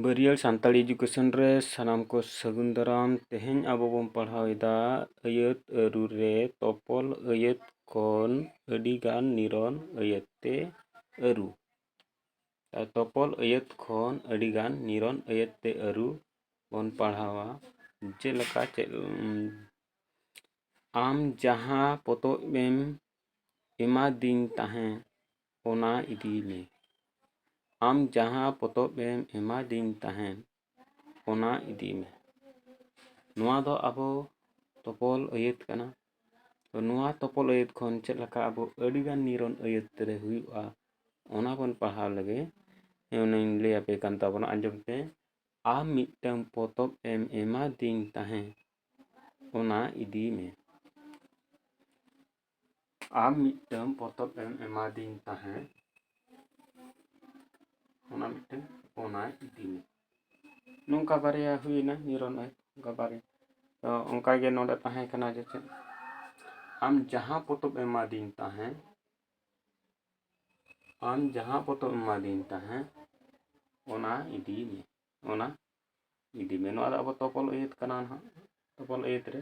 ᱵᱟᱹᱨᱤᱭᱟᱹᱲ ᱥᱟᱱᱛᱟᱲᱤ ᱮᱰᱩᱠᱮᱥᱚᱱ ᱨᱮ ᱥᱟᱱᱟᱢ ᱠᱚ ᱥᱟᱹᱜᱩᱱ ᱫᱟᱨᱟᱢ ᱛᱮᱦᱮᱧ ᱟᱵᱚ ᱵᱚᱱ ᱯᱟᱲᱦᱟᱣ ᱮᱫᱟ ᱟᱹᱭᱟᱹᱛ ᱟᱹᱨᱩ ᱨᱮ ᱛᱚᱯᱚᱞ ᱟᱹᱭᱟᱹᱛ ᱠᱷᱚᱱ ᱟᱹᱰᱤ ᱜᱟᱱ ᱱᱤᱨᱚᱱ ᱟᱹᱭᱟᱹᱛ ᱛᱮ ᱟᱹᱨᱩ ᱛᱚᱯᱚᱞ ᱟᱹᱭᱟᱹᱛ ᱠᱷᱚᱱ ᱟᱹᱰᱤ ᱜᱟᱱ ᱱᱤᱨᱚᱱ ᱟᱹᱭᱟᱹᱛ ᱛᱮ ᱟᱹᱨᱩ ᱵᱚᱱ ᱯᱟᱲᱦᱟᱣᱟ ᱡᱮᱞᱮᱠᱟ ᱪᱮᱫ ᱟᱢ ᱡᱟᱦᱟᱸ ᱯᱚᱛᱚᱵ ᱮᱢ ᱮᱢᱟᱫᱤᱧ ᱛᱟᱦᱮᱸᱫ ᱚᱱᱟ ᱤᱫᱤ ᱢᱮ ᱟᱢ ᱡᱟᱦᱟᱸ ᱯᱚᱛᱚᱵ ᱮᱢ ᱮᱢᱟ ᱫᱤᱧ ᱛᱟᱦᱮᱸᱫ ᱚᱱᱟ ᱤᱫᱤ ᱢᱮ ᱱᱚᱣᱟ ᱫᱚ ᱟᱵᱚ ᱛᱚᱯᱚᱞ ᱟᱹᱭᱟᱹᱛ ᱠᱟᱱᱟ ᱛᱚ ᱱᱚᱣᱟ ᱛᱚᱯᱚᱞ ᱟᱹᱭᱟᱹᱛ ᱠᱷᱚᱱ ᱪᱮᱫ ᱞᱮᱠᱟ ᱟᱵᱚ ᱟᱹᱰᱤ ᱜᱟᱱ ᱱᱤᱨᱚᱱ ᱟᱹᱭᱟᱹᱛ ᱨᱮ ᱦᱩᱭᱩᱜᱼᱟ ᱚᱱᱟ ᱵᱚᱱ ᱯᱟᱲᱦᱟᱣ ᱞᱮᱜᱮ ᱚᱱᱟᱧ ᱞᱟᱹᱭ ᱟᱯᱮ ᱠᱟᱱ ᱛᱟᱵᱚᱱᱟ ᱟᱸᱡᱚᱢ ᱯᱮ ᱟᱢ ᱢᱤᱫᱴᱟᱝ ᱯᱚᱛᱚᱵ ᱮᱢ ᱮᱢᱟ ᱫᱤᱧ ᱛᱟᱦᱮᱸᱫ ᱚᱱᱟ ᱤᱫᱤ ᱢᱮ ᱟᱢ ᱢᱤᱫᱴᱟᱝ ᱯᱚᱛᱚᱵ ᱮᱢ ᱮᱢᱟᱫᱤᱧ ᱛᱟᱦᱮᱸᱫ ᱚᱱᱟ ᱢᱤᱫᱴᱟᱝ ᱚᱱᱟ ᱤᱫᱤ ᱢᱮ ᱱᱚᱝᱠᱟ ᱵᱟᱨᱭᱟ ᱦᱩᱭᱮᱱᱟ ᱱᱤᱨᱚᱱ ᱟᱡ ᱚᱱᱠᱟ ᱵᱟᱨᱭᱟ ᱛᱚ ᱚᱱᱠᱟᱜᱮ ᱱᱚᱰᱮ ᱛᱟᱦᱮᱸ ᱠᱟᱱᱟ ᱡᱮ ᱪᱮᱫ ᱟᱢ ᱡᱟᱦᱟᱸ ᱯᱚᱛᱚᱵ ᱮᱢᱟᱫᱤᱧ ᱛᱟᱦᱮᱸᱫ ᱟᱢ ᱡᱟᱦᱟᱸ ᱯᱚᱛᱚᱵ ᱮᱢᱟᱫᱤᱧ ᱛᱟᱦᱮᱸᱫ ᱚᱱᱟ ᱤᱫᱤ ᱢᱮ ᱚᱱᱟ ᱤᱫᱤ ᱢᱮ ᱱᱚᱣᱟ ᱫᱚ ᱟᱵᱚ ᱛᱚᱯᱚᱞ ᱟᱹᱭᱟᱹᱛ ᱠᱟᱱᱟ ᱱᱟᱦᱟᱜ ᱛᱚᱯᱚᱞ ᱟᱹᱭᱟᱹᱛ ᱨᱮ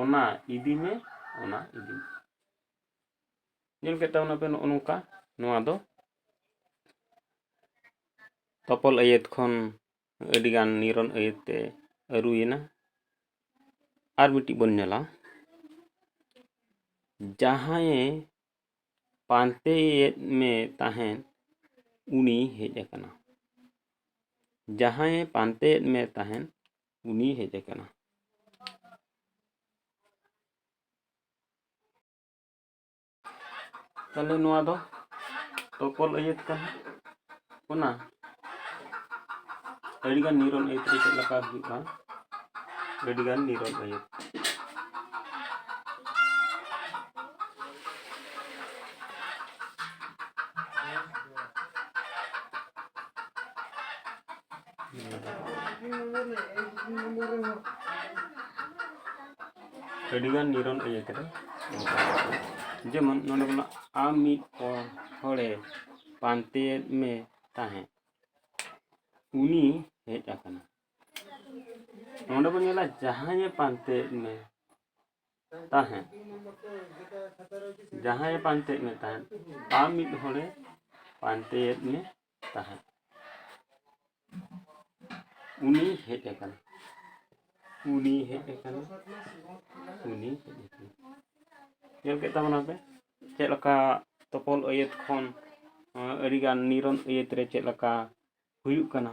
ᱚᱱᱟ ᱤᱫᱤ ᱢᱮ ᱚᱱᱟ ᱤᱫᱤ ᱢᱮ ᱧᱮᱞ ᱠᱮᱫ ᱛᱟᱵᱚᱱᱟ ᱯᱮ ᱱᱚᱜᱼᱚ ᱱᱚᱝᱠᱟ ᱱᱚᱣᱟ ᱫᱚ ᱛᱚᱯᱚᱞ ᱟᱹᱭᱟᱹᱛ ᱠᱷᱚᱱ ᱟᱹᱰᱤᱜᱟᱱ ᱱᱤᱨᱚᱱ ᱟᱹᱭᱟᱹᱛ ᱛᱮ ᱟᱹᱨᱩᱭᱮᱱᱟ ᱟᱨ ᱢᱤᱫᱴᱤᱡ ᱵᱚᱱ ᱧᱮᱞᱟ ᱡᱟᱦᱟᱸᱭᱮ ᱯᱟᱱᱛᱮᱭᱮᱫ ᱢᱮ ᱛᱟᱦᱮᱸᱫ ᱩᱱᱤ ᱦᱮᱡ ᱟᱠᱟᱱᱟ ᱡᱟᱦᱟᱸᱭᱮ ᱯᱟᱱᱛᱮᱭᱮᱫ ᱢᱮ ᱛᱟᱦᱮᱸᱫ ᱩᱱᱤ ᱦᱮᱡ ᱟᱠᱟᱱᱟ ᱛᱟᱦᱚᱞᱮ ᱱᱚᱣᱟ ᱫᱚ ᱛᱚᱯᱚᱞ ᱟᱹᱭᱟᱹᱛ ᱠᱟᱱᱟ ᱚᱱᱟ ᱟᱹᱰᱤᱜᱟᱱ ᱱᱤᱨᱚᱱ ᱟᱹᱭᱟᱹᱛ ᱨᱮ ᱪᱮᱫ ᱞᱮᱠᱟ ᱦᱩᱭᱩᱜᱼᱟ ᱟᱹᱰᱤᱜᱟᱱ ᱱᱤᱨᱚᱱ ᱟᱹᱭᱟᱹᱛ ᱟᱹᱰᱤᱜᱟᱱ ᱱᱤᱨᱚᱱ ᱤᱭᱟᱹ ᱠᱮᱫᱟ ᱡᱮᱢᱚᱱ ᱱᱚᱰᱮ ᱵᱚᱱᱟ ᱟᱢ ᱢᱤᱫ ᱦᱚᱲᱮ ᱯᱟᱱᱛᱮᱭᱮᱫ ᱢᱮ ᱛᱟᱦᱮᱸᱫ ᱩᱱᱤ ᱦᱮᱡ ᱟᱠᱟᱱᱟ ᱱᱚᱰᱮ ᱵᱚᱱ ᱧᱮᱞᱟ ᱡᱟᱦᱟᱸᱭᱮ ᱯᱟᱱᱛᱮᱭᱮᱫ ᱢᱮ ᱛᱟᱦᱮᱸᱫ ᱡᱟᱦᱟᱸᱭᱮ ᱯᱟᱱᱛᱮᱭᱮᱫ ᱢᱮ ᱛᱟᱦᱮᱸᱫ ᱟᱢ ᱢᱤᱫ ᱦᱚᱲᱮ ᱯᱟᱱᱛᱮᱭᱮᱫ ᱢᱮ ᱛᱟᱦᱮᱸᱫ ᱩᱱᱤ ᱦᱮᱡ ᱟᱠᱟᱱᱟ ᱩᱱᱤ ᱦᱮᱡ ᱟᱠᱟᱱᱟ ᱩᱱᱤ ᱦᱮᱡ ᱟᱠᱟᱱᱟ ᱧᱮᱞ ᱠᱮᱫ ᱛᱟᱵᱚᱱᱟ ᱯᱮ ᱪᱮᱫ ᱞᱮᱠᱟ ᱛᱚᱯᱚᱞ ᱟᱹᱭᱟᱹᱛ ᱠᱷᱚᱱ ᱟᱹᱰᱤᱜᱟᱱ ᱱᱤᱨᱚᱱ ᱟᱹᱭᱟᱹᱛ ᱨᱮ ᱪᱮᱫ ᱞᱮᱠᱟ ᱦᱩᱭᱩᱜ ᱠᱟᱱᱟ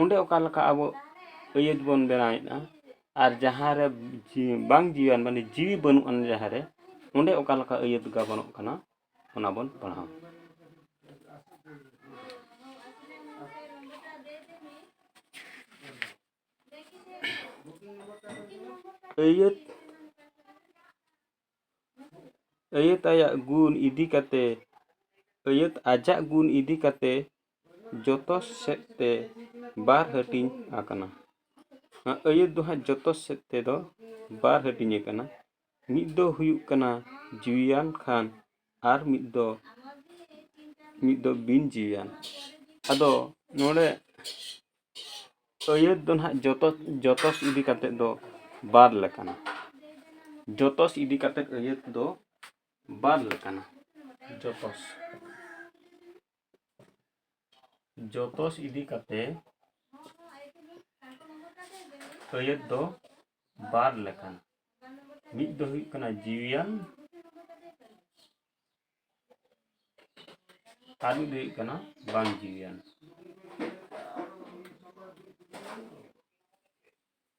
ᱚᱸᱰᱮ ᱚᱠᱟ ᱞᱮᱠᱟ ᱟᱵᱚ ᱟᱹᱭᱟᱹᱛ ᱵᱚᱱ ᱵᱮᱱᱟᱣᱮᱫᱼᱟ ᱟᱨ ᱡᱟᱦᱟᱸ ᱨᱮ ᱵᱟᱝ ᱡᱤᱣᱤᱭᱟᱱ ᱢᱟᱱᱮ ᱡᱤᱣᱤ ᱵᱟᱹᱱᱩᱜ ᱟᱱ ᱡᱟᱦᱟᱸ ᱨᱮ ᱚᱸᱰᱮ ᱚᱠᱟ ᱞᱮᱠᱟ ᱟᱹᱭᱟᱹᱛ ᱜᱟᱵᱟᱱᱚᱜ ᱠᱟᱱᱟ ᱚᱱᱟ ᱵᱚᱱ ᱯᱟᱲᱦᱟᱣᱟ ᱟᱹᱭᱟᱹᱛ ᱟᱹᱭᱟᱹᱛ ᱟᱭᱟᱜ ᱜᱩᱱ ᱤᱫᱤ ᱠᱟᱛᱮ ᱟᱹᱭᱟᱹᱛ ᱟᱡᱟᱜ ᱜᱩᱱ ᱤᱫᱤ ᱠᱟᱛᱮ ᱡᱚᱛᱚ ᱥᱮᱫ ᱛᱮ ᱵᱟᱨ ᱦᱟᱹᱴᱤᱧ ᱟᱠᱟᱱᱟ ᱱᱚᱣᱟ ᱟᱹᱭᱟᱹᱛ ᱫᱚ ᱦᱟᱸᱜ ᱡᱚᱛᱚ ᱥᱮᱫ ᱛᱮᱫᱚ ᱵᱟᱨ ᱦᱟᱹᱴᱤᱧ ᱟᱠᱟᱱᱟ ᱢᱤᱫ ᱫᱚ ᱦᱩᱭᱩᱜ ᱠᱟᱱᱟ ᱡᱤᱣᱤᱭᱟᱱ ᱠᱷᱟᱱ ᱟᱨ ᱢᱤᱫ ᱫᱚ ᱢᱤᱫ ᱫᱚ ᱵᱤᱱ ᱡᱤᱣᱤᱭᱟᱱ ᱟᱫᱚ ᱱᱚᱰᱮ ᱟᱹᱭᱟᱹᱛ ᱫᱚ ᱱᱟᱦᱟᱜ ᱡᱚᱛᱚ ᱡᱚᱛᱚ ᱤᱫᱤ ᱠᱟᱛᱮᱫ ᱫᱚ ᱵᱟᱨ ᱞᱮᱠᱟᱱᱟ ᱡᱚᱛᱚ ᱤᱫᱤ ᱠᱟᱛᱮᱫ ᱟᱹᱭᱟᱹᱛ ᱫᱚ ᱵᱟᱨ ᱞᱮᱠᱟᱱᱟ ᱡᱚᱛᱚ ᱡᱚᱛᱚᱥ ᱤᱫᱤ ᱠᱟᱛᱮ ᱟᱹᱭᱟᱹᱛ ᱫᱚ ᱵᱟᱨ ᱞᱮᱠᱟᱱ ᱢᱤᱫ ᱫᱚ ᱦᱩᱭᱩᱜ ᱠᱟᱱᱟ ᱡᱤᱣᱤᱭᱟᱱ ᱟᱨ ᱢᱤᱫ ᱫᱚ ᱦᱩᱭᱩᱜ ᱠᱟᱱᱟ ᱵᱟᱝ ᱡᱤᱣᱤᱭᱟᱱ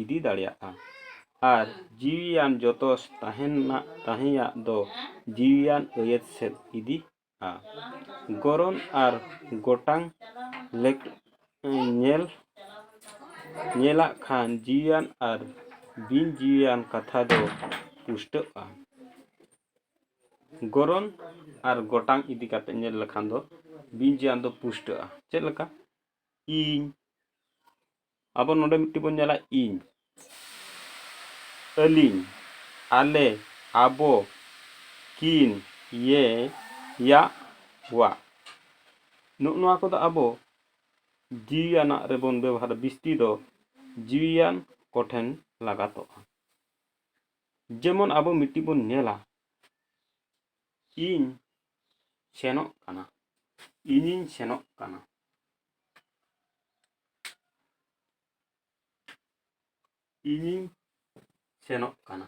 ᱤᱫᱤ ᱫᱟᱲᱮᱭᱟᱜᱼᱟ ᱟᱨ ᱡᱤᱣᱤᱭᱟᱱ ᱡᱚᱛᱚ ᱛᱟᱦᱮᱱᱟᱜ ᱛᱟᱦᱮᱸᱭᱟᱜ ᱫᱚ ᱡᱤᱣᱤᱭᱟᱱ ᱟᱹᱭᱟᱹᱛ ᱥᱮᱫ ᱤᱫᱤᱜᱼᱟ ᱜᱚᱨᱚᱱ ᱟᱨ ᱜᱚᱴᱟᱝ ᱞᱮᱠ ᱧᱮᱞ ᱧᱮᱞᱟᱜ ᱠᱷᱟᱱ ᱡᱤᱣᱤᱭᱟᱱ ᱟᱨ ᱵᱤᱱ ᱡᱤᱣᱤᱭᱟᱱ ᱠᱟᱛᱷᱟ ᱫᱚ ᱯᱩᱥᱴᱟᱹᱜᱼᱟ ᱜᱚᱨᱚᱱ ᱟᱨ ᱜᱚᱴᱟᱝ ᱤᱫᱤ ᱠᱟᱛᱮ ᱧᱮᱞ ᱞᱮᱠᱷᱟᱱ ᱫᱚ ᱵᱤᱱ ᱡᱤᱣᱤᱭᱟᱱ ᱫᱚ ᱯᱩᱥᱴᱟᱹᱜᱼᱟ ᱪᱮᱫ ᱞᱮᱠᱟ ᱤᱧ ᱟᱵᱚ ᱱᱚᱰᱮ ᱢᱤᱫᱴᱤᱡ ᱵᱚᱱ ᱧᱮᱞᱟ ᱤᱧ, ᱟᱹᱞᱤᱧ, ᱟᱞᱮ, ᱟᱵᱚ, ᱠᱤᱱ, ᱭᱮ, ᱭᱟᱜ, ᱣᱟᱜ᱾ ᱱᱚᱜ ᱱᱚᱣᱟ ᱠᱚᱫᱚ ᱟᱵᱚ ᱡᱤᱣᱤᱭᱟᱱᱟᱜ ᱨᱮᱵᱚᱱ ᱵᱮᱵᱚᱦᱟᱨᱟ ᱵᱤᱥᱛᱤ ᱫᱚ ᱡᱤᱣᱤᱭᱟᱱ ᱠᱚ ᱴᱷᱮᱱ ᱞᱟᱜᱟᱛᱚᱜᱼᱟ᱾ ᱡᱮᱢᱚᱱ ᱟᱵᱚ ᱢᱤᱫᱴᱤᱡ ᱵᱚᱱ ᱧᱮᱞᱟ ᱤᱧ ᱥᱮᱱᱚᱜ ᱠᱟᱱᱟ, ᱤᱧᱤᱧ ᱥᱮᱱᱚᱜ ᱠᱟᱱᱟ᱾ ᱤᱧᱤᱧ ᱥᱮᱱᱚᱜ ᱠᱟᱱᱟ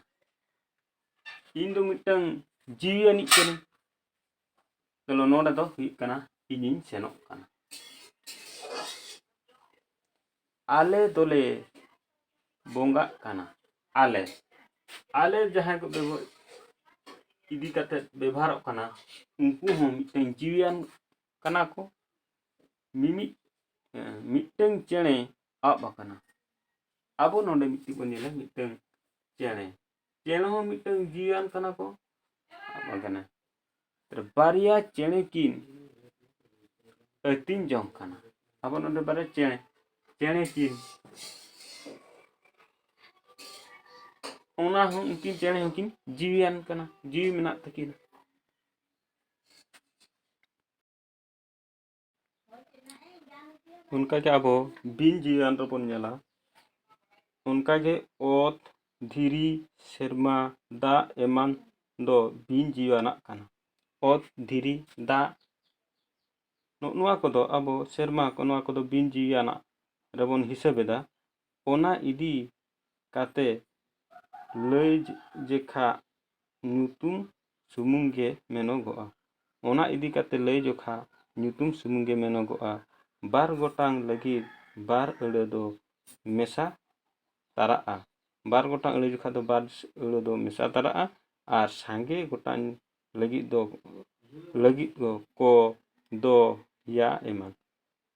ᱤᱧ ᱫᱚ ᱢᱤᱫᱴᱟᱝ ᱡᱤᱣᱤ ᱟᱹᱱᱤᱡ ᱠᱟᱹᱱᱟᱹᱧ ᱛᱟᱦᱞᱮ ᱱᱚᱰᱮ ᱫᱚ ᱦᱩᱭᱩᱜ ᱠᱟᱱᱟ ᱤᱧᱤᱧ ᱥᱮᱱᱚᱜ ᱠᱟᱱᱟ ᱟᱞᱮ ᱫᱚᱞᱮ ᱵᱚᱸᱜᱟᱜ ᱠᱟᱱᱟ ᱟᱞᱮ ᱟᱞᱮ ᱡᱟᱦᱟᱸᱭ ᱠᱚ ᱵᱮᱵᱚᱦᱟᱨ ᱤᱫᱤ ᱠᱟᱛᱮ ᱵᱮᱵᱚᱦᱟᱨᱚᱜ ᱠᱟᱱᱟ ᱩᱱᱠᱩ ᱦᱚᱸ ᱢᱤᱫᱴᱟᱝ ᱡᱤᱣᱤᱭᱟᱱ ᱠᱟᱱᱟ ᱠᱚ ᱢᱤᱢᱤᱫ ᱢᱤᱫᱴᱟᱹᱝ ᱪᱮᱬᱮ ᱟᱵ ᱟᱠᱟᱱᱟ ᱟᱵᱚ ᱱᱚᱰᱮ ᱢᱤᱫᱴᱤᱡ ᱵᱚᱱ ᱧᱮᱞᱟ ᱢᱤᱫᱴᱟᱹᱝ ᱪᱮᱬᱮ ᱪᱮᱬᱮ ᱦᱚᱸ ᱢᱤᱫᱴᱟᱹᱝ ᱡᱤᱣᱤᱭᱟᱱ ᱠᱟᱱᱟ ᱠᱚ ᱟᱵ ᱟᱠᱟᱱᱟ ᱵᱟᱨᱭᱟ ᱪᱮᱬᱮ ᱠᱤᱱ ᱟᱹᱛᱤᱧ ᱡᱚᱝ ᱠᱟᱱᱟ ᱟᱵᱚ ᱱᱚᱰᱮ ᱵᱟᱨᱭᱟ ᱪᱮᱬᱮ ᱪᱮᱬᱮ ᱠᱤᱱ ᱚᱱᱟ ᱦᱚᱸ ᱩᱱᱠᱤᱱ ᱪᱮᱬᱮ ᱦᱚᱸᱠᱤᱱ ᱡᱤᱣᱤᱭᱟᱱ ᱠᱟᱱᱟ ᱡᱤᱣᱤ ᱢᱮᱱᱟᱜ ᱛᱟᱹᱠᱤᱱᱟ ᱚᱱᱠᱟᱜᱮ ᱟᱵᱚ ᱵᱤᱱ ᱡᱤᱣᱤᱭᱟᱱ ᱨᱮᱵᱚᱱ ᱧᱮᱞᱟ ᱚᱱᱠᱟᱜᱮ ᱚᱛ ᱫᱷᱤᱨᱤ ᱥᱮᱨᱢᱟ ᱫᱟᱜ ᱮᱢᱟᱱ ᱫᱚ ᱵᱤᱱ ᱡᱤᱣᱤᱭᱟᱱᱟᱜ ᱠᱟᱱᱟ ᱚᱛ ᱫᱷᱤᱨᱤ ᱫᱟᱜ ᱱᱚᱜᱼᱚ ᱱᱚᱣᱟ ᱠᱚᱫᱚ ᱟᱵᱚ ᱥᱮᱨᱢᱟ ᱠᱚ ᱱᱚᱣᱟ ᱠᱚᱫᱚ ᱵᱤᱱ ᱡᱤᱣᱤᱭᱟᱱᱟᱜ ᱨᱮᱵᱚᱱ ᱦᱤᱥᱟᱹᱵᱮᱫᱟ ᱚᱱᱟ ᱤᱫᱤ ᱠᱟᱛᱮ ᱞᱟᱹᱭ ᱡᱮᱠᱷᱟᱜ ᱧᱩᱛᱩᱢ ᱥᱩᱢᱩᱝ ᱜᱮ ᱢᱮᱱᱚᱜᱚᱜᱼᱟ᱾ ᱚᱱᱟ ᱤᱫᱤ ᱠᱟᱛᱮ ᱞᱟᱹᱭ ᱡᱚᱠᱷᱟ ᱧᱩᱛᱩᱢ ᱥᱩᱢᱩᱝ ᱜᱮ ᱢᱮᱱᱚᱜᱚᱜᱼᱟ᱾ ᱵᱟᱨ ᱜᱚᱴᱟᱝ ᱞᱟᱹᱜᱤᱫ ᱵᱟᱨ ᱟᱹᱲᱟᱹ ᱫᱚ ᱢᱮᱥᱟ ᱛᱟᱨᱟᱜᱼᱟ᱾ ᱵᱟᱨ ᱜᱚᱴᱟᱝ ᱟᱹᱲᱟᱹ ᱡᱚᱠᱷᱟ ᱫᱚ ᱵᱟᱨ ᱟᱹᱲᱟᱹ ᱫᱚ ᱢᱮᱥᱟ ᱛᱟᱨᱟᱜᱼᱟ ᱟᱨ ᱥᱟᱸᱜᱮ ᱜᱚᱴᱟᱝ ᱞᱟᱹᱜᱤᱫ ᱫᱚ ᱞᱟᱹᱜᱤᱫ ᱫᱚ ᱠᱚ, ᱫᱚ, ᱭᱟ ᱮᱢᱟᱱ᱾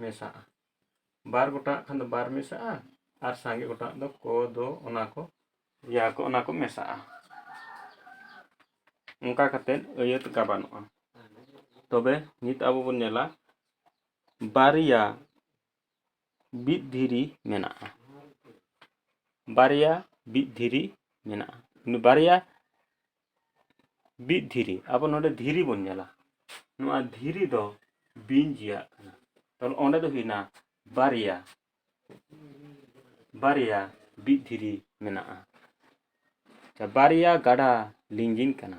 ᱢᱮᱥᱟᱜᱼᱟ ᱵᱟᱨ ᱜᱚᱴᱟᱜ ᱠᱷᱟᱱ ᱫᱚ ᱵᱟᱨ ᱢᱮᱥᱟᱜᱼᱟ ᱟᱨ ᱥᱟᱸᱜᱮ ᱜᱚᱴᱟᱜ ᱫᱚ ᱠᱚ ᱫᱚ ᱚᱱᱟ ᱠᱚ ᱤᱭᱟ ᱠᱚ ᱚᱱᱟ ᱠᱚ ᱢᱮᱥᱟᱜᱼᱟ ᱚᱱᱠᱟ ᱠᱟᱛᱮᱫ ᱟᱹᱭᱟᱹᱛ ᱜᱟᱵᱟᱱᱚᱜᱼᱟ ᱛᱚᱵᱮ ᱱᱤᱛ ᱟᱵᱚ ᱵᱚᱱ ᱧᱮᱞᱟ ᱵᱟᱨᱭᱟ ᱵᱤᱫ ᱫᱷᱤᱨᱤ ᱢᱮᱱᱟᱜᱼᱟ ᱵᱟᱨᱭᱟ ᱵᱤᱫ ᱫᱷᱤᱨᱤ ᱢᱮᱱᱟᱜᱼᱟ ᱵᱟᱨᱭᱟ ᱵᱤᱫ ᱫᱷᱤᱨᱤ ᱟᱵᱚ ᱱᱚᱰᱮ ᱫᱷᱤᱨᱤ ᱵᱚᱱ ᱧᱮᱞᱟ ᱱᱚᱣᱟ ᱫᱷᱤᱨᱤ ᱫᱚ ᱵᱤᱧ ᱡᱤᱭᱟᱜ ᱠᱟᱱᱟ ᱛᱟᱦᱚᱞᱮ ᱚᱸᱰᱮ ᱫᱚ ᱦᱩᱭᱱᱟ ᱵᱟᱨᱭᱟ ᱵᱟᱨᱭᱟ ᱵᱤᱫ ᱫᱷᱤᱨᱤ ᱢᱮᱱᱟᱜᱼᱟ ᱵᱟᱨᱭᱟ ᱜᱟᱰᱟ ᱞᱤᱸᱜᱤᱱ ᱠᱟᱱᱟ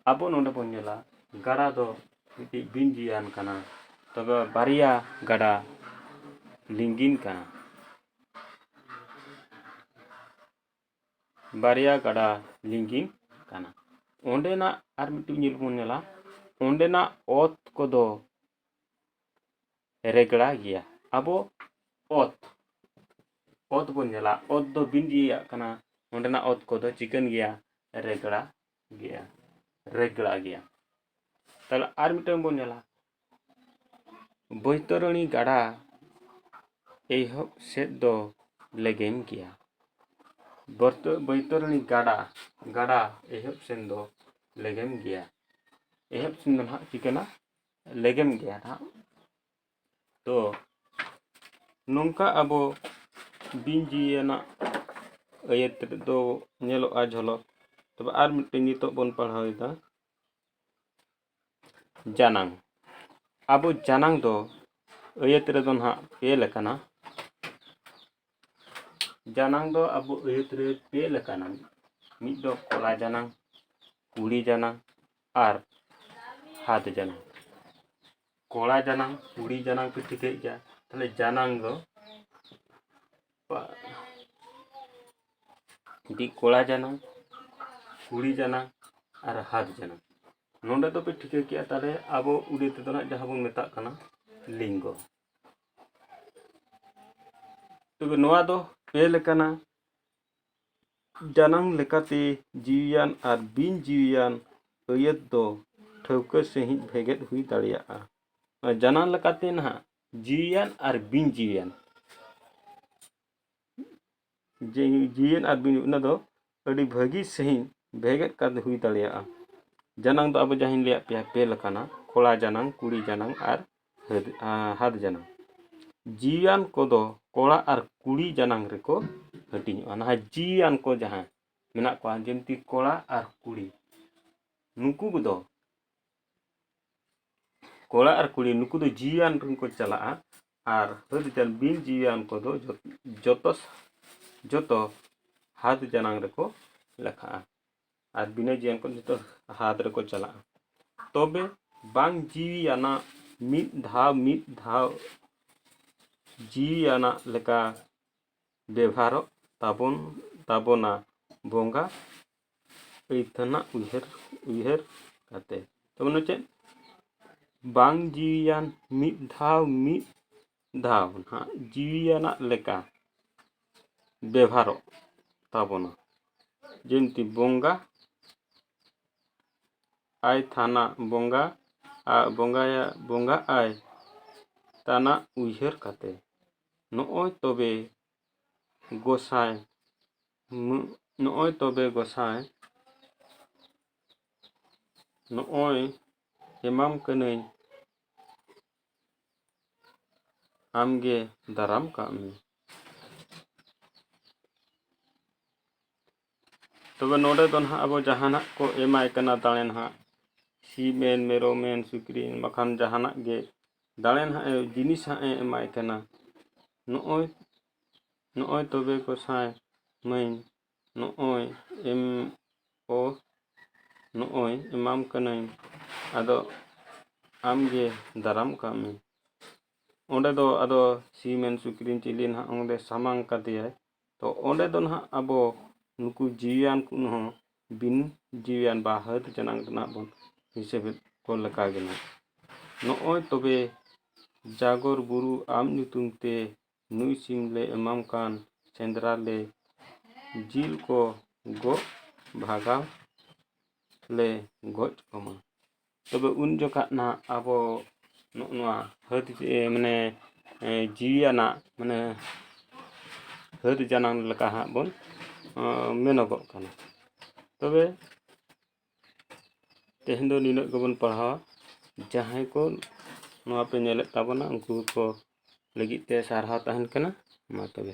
ᱟᱵᱚ ᱱᱚᱰᱮ ᱵᱚᱱ ᱧᱮᱞᱟ ᱜᱟᱰᱟ ᱫᱚ ᱢᱤᱫᱴᱤᱡ ᱵᱤᱱ ᱡᱤᱭᱟᱱ ᱠᱟᱱᱟ ᱛᱚᱵᱮ ᱵᱟᱨᱭᱟ ᱜᱟᱰᱟ ᱞᱤᱸᱜᱤᱱ ᱠᱟᱱᱟ ᱵᱟᱨᱭᱟ ᱜᱟᱰᱟ ᱞᱤᱸᱜᱤᱱ ᱠᱟᱱᱟ ᱚᱸᱰᱮᱱᱟᱜ ᱟᱨ ᱢᱤᱫᱴᱤᱡ ᱧᱮᱞ ᱵᱚᱱ ᱧᱮᱞᱟ ᱚᱸᱰᱮᱱᱟᱜ ᱚᱛ ᱠᱚᱫᱚ ᱨᱮᱜᱽᱲᱟ ᱜᱮᱭᱟ ᱟᱵᱚ ᱚᱛ ᱚᱛ ᱵᱚᱱ ᱧᱮᱞᱟ ᱚᱛ ᱫᱚ ᱵᱤᱱ ᱤᱭᱟᱹᱭᱟᱜ ᱠᱟᱱᱟ ᱚᱸᱰᱮᱱᱟᱜ ᱚᱛ ᱠᱚᱫᱚ ᱪᱤᱠᱟᱹᱱ ᱜᱮᱭᱟ ᱨᱮᱜᱽᱲᱟ ᱜᱮᱭᱟ ᱨᱮᱜᱽᱲᱟ ᱜᱮᱭᱟ ᱛᱟᱦᱚᱞᱮ ᱟᱨ ᱢᱤᱫᱴᱟᱝ ᱵᱚᱱ ᱧᱮᱞᱟ ᱵᱳᱭᱛᱚᱨᱚᱱᱤ ᱜᱟᱰᱟ ᱮᱦᱚᱵ ᱥᱮᱫ ᱫᱚ ᱞᱮᱜᱮᱧ ᱜᱮᱭᱟ ᱵᱳᱭᱛᱚᱨᱚᱱᱤ ᱜᱟᱰᱟ ᱜᱟᱰᱟ ᱮᱦᱚᱵ ᱥᱮᱱ ᱫᱚ ᱞᱮᱜᱮᱢ ᱜᱮᱭᱟ ᱮᱦᱚᱵ ᱥᱮᱱ ᱫᱚ ᱦᱟᱸᱜ ᱪᱤᱠᱟᱹᱱᱟ ᱞᱮᱜᱮᱢ ᱜᱮᱭᱟ ᱦᱟᱸᱜ ᱛᱚ ᱱᱚᱝᱠᱟ ᱟᱵᱚ ᱵᱤᱱ ᱡᱤᱣᱤᱭᱟᱱᱟᱜ ᱟᱹᱭᱟᱹᱛ ᱫᱚ ᱧᱮᱞᱚᱜᱼᱟ ᱡᱷᱚᱞᱚᱠ ᱛᱚᱵᱮ ᱟᱨ ᱢᱤᱫᱴᱮᱱ ᱱᱤᱛᱚᱜ ᱵᱚᱱ ᱯᱟᱲᱦᱟᱣᱮᱫᱟ ᱡᱟᱱᱟᱝ ᱟᱵᱚ ᱡᱟᱱᱟᱝ ᱫᱚ ᱟᱹᱭᱟᱹᱛ ᱨᱮᱫᱚ ᱱᱟᱦᱟᱜ ᱯᱮ ᱞᱮᱠᱟᱱᱟ ᱡᱟᱱᱟᱝ ᱫᱚ ᱟᱵᱚ ᱟᱹᱭᱟᱹᱛ ᱨᱮ ᱯᱮ ᱞᱮᱠᱟᱱᱟ ᱢᱤᱫ ᱫᱚ ᱠᱚᱲᱟ ᱡᱟᱱᱟᱝ ᱠᱩᱲᱤ ᱡᱟᱱᱟᱝ ᱟᱨ ᱦᱟᱛ ᱡᱟᱱᱟᱝ ᱠᱚᱲᱟ ᱡᱟᱱᱟᱝ ᱠᱩᱲᱤ ᱡᱟᱱᱟᱝ ᱯᱮ ᱴᱷᱤᱠᱟᱹᱭᱮᱫ ᱜᱮᱭᱟ ᱛᱟᱦᱞᱮ ᱡᱟᱱᱟᱝ ᱫᱚ ᱢᱤᱫᱴᱤᱡ ᱠᱚᱲᱟ ᱡᱟᱱᱟᱝ ᱠᱩᱲᱤ ᱡᱟᱱᱟᱝ ᱟᱨ ᱦᱟᱛ ᱡᱟᱱᱟᱝ ᱱᱚᱰᱮ ᱫᱚᱯᱮ ᱴᱷᱤᱠᱟᱹ ᱠᱮᱜᱼᱟ ᱛᱟᱦᱚᱞᱮ ᱟᱵᱚ ᱩᱲᱤ ᱛᱮᱫᱚ ᱱᱟᱜ ᱡᱟᱦᱟᱸ ᱵᱚᱱ ᱢᱮᱛᱟᱜ ᱠᱟᱱᱟ ᱞᱤᱝᱜᱚ ᱛᱚᱵᱮ ᱱᱚᱣᱟ ᱫᱚ ᱯᱮ ᱞᱮᱠᱟᱱᱟ ᱡᱟᱱᱟᱝ ᱞᱮᱠᱟᱛᱮ ᱡᱤᱣᱤᱭᱟᱱ ᱟᱨ ᱵᱤᱱ ᱡᱤᱣᱤᱭᱟᱱ ᱟᱹᱭᱟᱹᱛ ᱫᱚ ᱴᱷᱟᱹᱣᱠᱟᱹ ᱥᱟᱺᱦᱤᱡ ᱵᱷᱮᱜᱮᱫ ᱦᱩᱭ ᱫᱟᱲᱮᱭᱟᱜᱼᱟ ᱡᱟᱱᱟᱝ ᱞᱮᱠᱟᱛᱮ ᱱᱟᱦᱟᱜ ᱡᱤᱣᱤᱭᱟᱱ ᱟᱨ ᱵᱤᱱ ᱡᱤᱣᱤᱭᱟᱱ ᱡᱮ ᱡᱤᱣᱤᱭᱟᱱ ᱟᱨ ᱵᱤᱱ ᱚᱱᱟ ᱫᱚ ᱟᱹᱰᱤ ᱵᱷᱟᱹᱜᱤ ᱥᱟᱺᱦᱤᱡ ᱵᱷᱮᱜᱮᱫ ᱠᱟᱛᱮ ᱦᱩᱭ ᱫᱟᱲᱮᱭᱟᱜᱼᱟ ᱡᱟᱱᱟᱝ ᱫᱚ ᱟᱵᱚ ᱡᱟᱦᱟᱸᱧ ᱞᱟᱹᱭᱟᱫ ᱯᱮᱭᱟ ᱯᱮ ᱞᱮᱠᱟᱱᱟ ᱠᱚᱲᱟ ᱡᱟᱱᱟᱝ ᱠᱩᱲᱤ ᱡᱟᱱᱟᱝ ᱟᱨ ᱦᱟᱹᱫ ᱦᱟᱫ ᱡᱟᱱᱟᱝ ᱡᱤᱣᱤᱭᱟᱱ ᱠᱚᱫᱚ ᱠᱚᱲᱟ ᱟᱨ ᱠᱩᱲᱤ ᱡᱟᱱᱟᱝ ᱨᱮᱠᱚ ᱦᱟᱹᱴᱤᱧᱚᱜᱼᱟ ᱱᱟᱦᱟᱜ ᱡᱤᱣᱤᱭᱟᱱ ᱠᱚ ᱡᱟᱦᱟᱸ ᱢᱮᱱᱟᱜ ᱠᱚᱣᱟ ᱡᱤᱱᱛᱤ ᱠᱚᱲᱟ ᱟᱨ ᱠᱩᱲᱤ ᱱᱩᱠᱩ ᱠᱚᱫᱚ ᱠᱚᱲᱟ ᱟᱨ ᱠᱩᱲᱤ ᱱᱩᱠᱩ ᱫᱚ ᱡᱤᱣᱤᱭᱟᱱ ᱨᱮᱱ ᱠᱚ ᱪᱟᱞᱟᱜᱼᱟ ᱟᱨ ᱦᱟᱹᱛ ᱡᱟᱱ ᱵᱤᱱ ᱡᱤᱣᱤᱭᱟᱱ ᱠᱚᱫᱚ ᱡᱚᱛᱚ ᱡᱚᱛᱚ ᱦᱟᱛ ᱡᱟᱱᱟᱝ ᱨᱮᱠᱚ ᱞᱮᱠᱷᱟᱜᱼᱟ ᱟᱨ ᱵᱤᱱᱟᱹ ᱡᱤᱣᱤᱭᱟᱱ ᱠᱚ ᱡᱚᱛᱚ ᱦᱟᱛ ᱨᱮᱠᱚ ᱪᱟᱞᱟᱜᱼᱟ ᱛᱚᱵᱮ ᱵᱟᱝ ᱡᱤᱣᱤᱭᱟᱱᱟᱜ ᱢᱤᱫ ᱫᱷᱟᱣ ᱢᱤᱫ ᱫᱷᱟᱣ ᱡᱤᱣᱤᱭᱟᱱᱟᱜ ᱞᱮᱠᱟ ᱵᱮᱵᱷᱟᱨᱚᱜ ᱛᱟᱵᱚᱱ ᱛᱟᱵᱚᱱᱟ ᱵᱚᱸᱜᱟ ᱟᱹᱭᱫᱷᱟᱹᱱᱟᱜ ᱩᱭᱦᱟᱹᱨ ᱩᱭᱦᱟᱹᱨ ᱠᱟᱛᱮ ᱛᱟᱨᱢᱟᱱᱮ ᱪᱮᱫ ᱵᱟᱝ ᱡᱤᱣᱤᱭᱟᱱ ᱢᱤᱫ ᱫᱷᱟᱣ ᱢᱤᱫ ᱫᱷᱟᱣ ᱱᱟᱦᱟᱜ ᱡᱤᱣᱤᱭᱟᱱᱟᱜ ᱞᱮᱠᱟ ᱵᱮᱵᱷᱟᱨᱚᱜ ᱛᱟᱵᱚᱱᱟ ᱡᱤᱱᱛᱤ ᱵᱚᱸᱜᱟ ᱟᱭ ᱛᱷᱟᱱᱟ ᱵᱚᱸᱜᱟ ᱟᱨ ᱵᱚᱸᱜᱟᱭᱟ ᱵᱚᱸᱜᱟ ᱟᱭ ᱛᱟᱱᱟᱜ ᱩᱭᱦᱟᱹᱨ ᱠᱟᱛᱮ ᱱᱚᱜᱼᱚᱭ ᱛᱚᱵᱮ ᱜᱚᱸᱥᱟᱭ ᱱᱚᱜᱼᱚᱭ ᱛᱚᱵᱮ ᱜᱚᱸᱥᱟᱭ ᱱᱚᱜᱼᱚᱭ ᱮᱢᱟᱢ ᱠᱟᱹᱱᱟᱹᱧ ᱟᱢᱜᱮ ᱫᱟᱨᱟᱢ ᱠᱟᱜ ᱢᱮ ᱛᱚᱵᱮ ᱱᱚᱰᱮ ᱫᱚ ᱱᱟᱦᱟᱜ ᱟᱵᱚ ᱡᱟᱦᱟᱱᱟᱜ ᱠᱚ ᱮᱢᱟᱭ ᱠᱟᱱᱟ ᱫᱟᱲᱮ ᱱᱟᱦᱟᱜ ᱥᱤᱢ ᱮᱱ ᱢᱮᱨᱚᱢ ᱮᱱ ᱥᱩᱠᱨᱤ ᱮᱱ ᱵᱟᱠᱷᱟᱱ ᱡᱟᱦᱟᱱᱟᱜ ᱜᱮ ᱫᱟᱲᱮ ᱱᱟᱦᱟᱜ ᱮ ᱡᱤᱱᱤᱥ ᱦᱟᱸᱜ ᱮ ᱮᱢᱟᱭ ᱠᱟᱱᱟ ᱱᱚᱜᱼᱚᱭ ᱱᱚᱜᱼᱚᱭ ᱛᱚᱵᱮ ᱜᱚᱸᱥᱟᱭ ᱢᱟᱹᱭ ᱱᱚᱜᱼᱚᱭ ᱮᱢ ᱚ ᱱᱚᱜᱼᱚᱭ ᱮᱢᱟᱢ ᱠᱟᱹᱱᱟᱹᱧ ᱟᱫᱚ ᱟᱢᱜᱮ ᱫᱟᱨᱟᱢ ᱠᱟᱜ ᱢᱮ ᱚᱸᱰᱮ ᱫᱚ ᱟᱫᱚ ᱥᱤᱢ ᱮᱱ ᱥᱩᱠᱨᱤ ᱮᱱ ᱪᱤᱞᱤ ᱱᱟᱦᱟᱜ ᱚᱸᱰᱮ ᱥᱟᱢᱟᱝ ᱠᱟᱫᱮᱭᱟᱭ ᱛᱚ ᱚᱸᱰᱮ ᱫᱚ ᱱᱟᱦᱟᱜ ᱟᱵᱚ ᱱᱩᱠᱩ ᱡᱤᱣᱤᱭᱟᱱ ᱠᱚ ᱦᱚᱸ ᱵᱤᱱ ᱡᱤᱣᱤᱭᱟᱱ ᱵᱟ ᱦᱟᱹᱛ ᱡᱟᱱᱟᱝ ᱫᱚ ᱱᱟᱦᱟᱜ ᱵᱚᱱ ᱦᱤᱥᱟᱹᱵᱮᱫ ᱠᱚ ᱞᱮᱠᱟ ᱜᱮ ᱱᱟᱦᱟᱜ ᱱᱚᱜᱼᱚᱸᱭ ᱛᱚᱵᱮ ᱡᱟᱜᱚᱨ ᱵᱩᱨᱩ ᱟᱢ ᱧᱩᱛᱩᱢ ᱛᱮ ᱱᱩᱭ ᱥᱤᱢ ᱞᱮ ᱮᱢᱟᱢ ᱠᱟᱱ ᱥᱮᱸᱫᱽᱨᱟ ᱞᱮ ᱡᱤᱞ ᱠᱚ ᱜᱚᱜ ᱵᱷᱟᱜᱟᱣ ᱞᱮ ᱜᱚᱡ ᱠᱚᱢᱟ ᱛᱚᱵᱮ ᱩᱱ ᱡᱚᱠᱷᱟᱜ ᱱᱟᱦᱟᱜ ᱟᱵᱚ ᱱᱚᱜᱼᱚ ᱱᱚᱣᱟ ᱦᱟᱹᱛᱤ ᱢᱟᱱᱮ ᱡᱤᱣᱤᱭᱟᱱᱟᱜ ᱢᱟᱱᱮ ᱦᱟᱹᱛᱤ ᱡᱟᱱᱟᱝ ᱞᱮᱠᱟ ᱦᱟᱸᱜ ᱵᱚᱱ ᱢᱮᱱᱚᱜᱚᱜ ᱠᱟᱱᱟ ᱛᱚᱵᱮ ᱛᱮᱦᱮᱧ ᱫᱚ ᱱᱤᱱᱟᱹᱜ ᱜᱮᱵᱚᱱ ᱯᱟᱲᱦᱟᱣᱟ ᱡᱟᱦᱟᱸᱭ ᱠᱚ ᱱᱚᱣᱟ ᱯᱮ ᱧᱮᱞᱮᱫ ᱛᱟᱵᱚᱱᱟ ᱩᱱᱠᱩ ᱠᱚ ᱞᱟᱹᱜᱤᱫ ᱛᱮ ᱥᱟᱨᱦᱟᱣ ᱛᱟᱦᱮᱱ ᱠᱟᱱᱟ ᱢᱟ ᱛᱚᱵᱮ